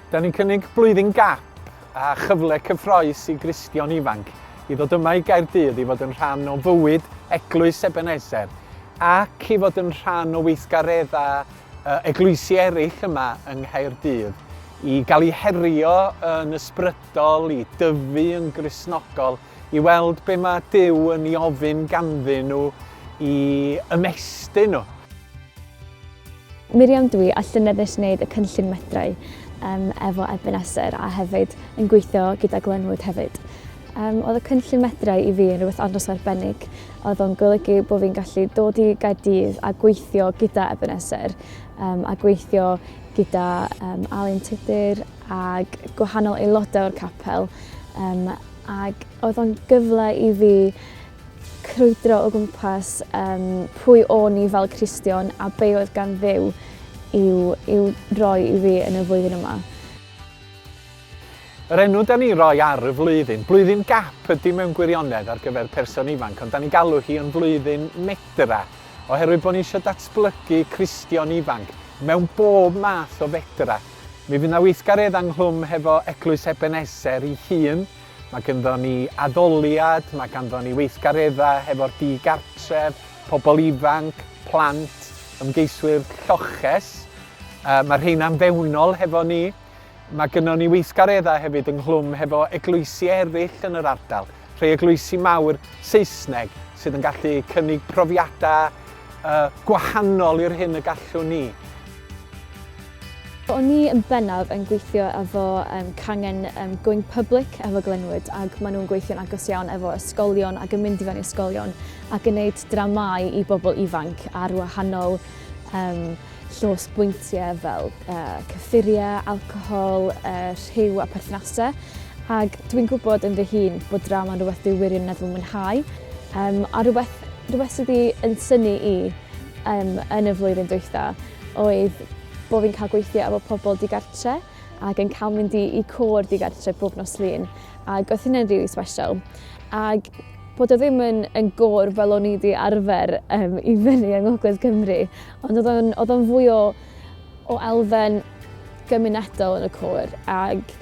Da ni'n cynnig blwyddyn gap a chyfle cyffroes i Gristion ifanc i ddod yma i Gaerdydd i fod yn rhan o fywyd Eglwys Ebenezer ac i fod yn rhan o weithgareddau eglwysi eraill yma yng Nghaerdydd i gael ei herio yn ysbrydol, i dyfu yn grisnogol i weld be mae Duw yn ei ofyn ganddyn nhw i ymestyn nhw. Miriam Dwi a llynedd nes wneud y cynllun Medrau um, efo Ebenezer a hefyd yn gweithio gyda Glenwood hefyd. Um, oedd y cynllun Medrau i fi yn rhywbeth andros arbennig. Oedd o'n golygu bod fi'n gallu dod i Gaerdydd a gweithio gyda Ebenezer um, a gweithio gyda um, Alun Tudur ag gwahanol aelodau o'r capel um, ac oedd o'n gyfle i fi crwydro o gwmpas um, pwy o'n i fel Cristion a be oedd gan ddew i'w, i'w roi i fi yn y flwyddyn yma. Yr enw da ni roi ar y flwyddyn, blwyddyn gap ydy mewn gwirionedd ar gyfer person ifanc, ond da ni galw hi yn flwyddyn medra, oherwydd bod ni eisiau datblygu Cristion ifanc mewn bob math o fedra. Mi fydd 'na weithgaredd ynghlwm hefo Eglwys Ebeneser ei hun. Mae ganddo ni addoliad, mae ganddo ni weithgareddau hefo'r di-gartref, pobl ifanc, plant, ymgeiswyr lloches. Uh, mae rheina'n fewnol hefo ni. Mae gynnon ni weithgareddau hefyd ynghlwm hefo eglwysi eraill yn yr ardal. Rhai eglwysi mawr Saesneg sydd yn gallu cynnig profiadau uh, gwahanol i'r hyn y gallwn ni. O'n i yn bennaf yn gweithio efo um, cangen um, Going Public efo Glenwood ac maen nhw'n gweithio'n agos iawn efo ysgolion ac yn mynd i fewn i ysgolion ac yn gwneud dramau i bobl ifanc ar wahanol um, llosbwyntiau fel uh, cyffuriau, alcohol, uh, rhyw a perthnasau. Ac dwi'n gwybod yn fy hun bod drama yn rhywbeth dwi'n wirioneddol mwynhau, um, a rhywbeth, rhywbeth sydd wedi yn syni i um, yn y flwyddyn dwytha oedd bod fi'n cael gweithio efo pobl digartre ac yn cael mynd i, i cwr digartre bob nos lun. Ac oedd hynny'n rili really special. Ac bod o ddim yn, yn gor fel o'n i wedi arfer um, i fyny yng Ngogledd Cymru, Ond oedd o'n, oedd o'n fwy o, o elfen gymunedol yn y côr ac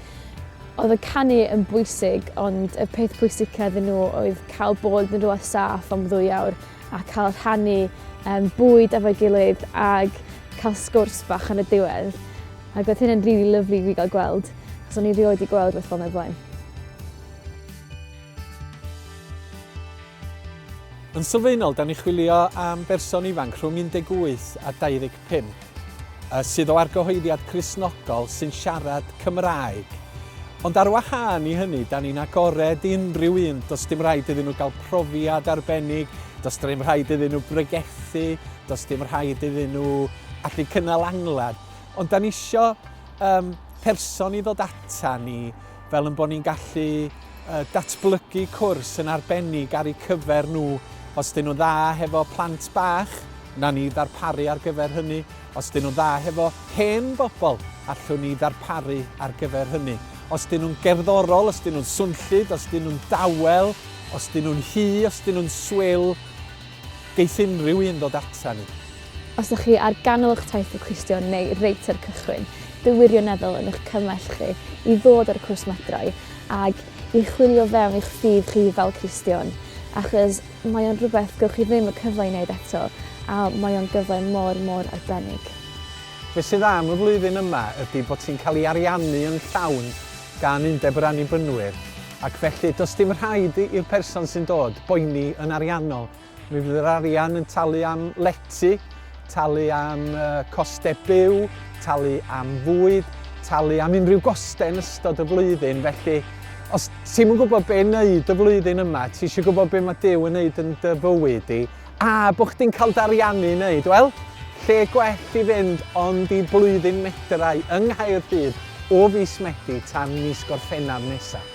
oedd y canu yn bwysig ond y peth pwysica iddyn nhw oedd cael bod yn rhywle saff am ddwy awr a cael rhannu um, bwyd efo'i gilydd ac cael sgwrs bach yn y diwedd. Ac oedd hynny'n rili really lyflu i gael gweld, achos o'n i rioed wedi gweld beth fel yna blaen. Yn sylfaenol, da ni'n chwilio am berson ifanc rhwng 18 a 25 sydd o argyhoeddiad Cristnogol sy'n siarad Cymraeg. Ond ar wahân i hynny, da ni'n agored i unrhyw un, does dim rhaid iddyn nhw gael profiad arbennig, does dim rhaid iddyn nhw bregethu, does dim rhaid iddyn nhw allu cynnal angladd. Ond da ni isio um, person i ddod ata ni fel yn bod ni'n gallu datblygu cwrs yn arbennig ar eu cyfer nhw. Os dyn nhw'n dda hefo plant bach, na ni ddarparu ar gyfer hynny. Os dyn nhw'n dda hefo hen bobl, allwn ni ddarparu ar gyfer hynny. Os dyn nhw'n gerddorol, os dyn nhw'n swnllyd, os dyn nhw'n dawel, os dyn nhw'n hi, os dyn nhw'n swil, Geith unrhyw un ddod ata ni. Os ydych chi ar ganol eich taith o Cristion neu reit ar y cychwyn, dw wirioneddol yn eich cymell chi i ddod ar y cwrs Madroi ag i chwilio fewn i'ch ffydd chi fel Cristion, achos mae o'n rhywbeth gewch chi ddim y cyfle i wneud eto a mae o'n gyfle mor, mor arbennig. Be sydd am y flwyddyn yma ydy bod ti'n cael ei ariannu yn llawn gan Undeb yr Annibynwyr, ac felly does dim rhaid i'r person sy'n dod boeni yn ariannol. Mi fydd yr arian yn talu am lety, talu am costau byw, talu am fwyd, talu am unrhyw gostau yn ystod y flwyddyn, felly os ti'm yn gwybod be' neud y flwyddyn yma, ti eisiau gwybod be' mae Duw yn neud yn dy fywyd di, A bod chdi'n cael dariannu i wneud, wel, lle gwell i fynd ond i blwyddyn medrau yng Nghaerdydd o fis Medi tan mis Gorffennaf nesaf.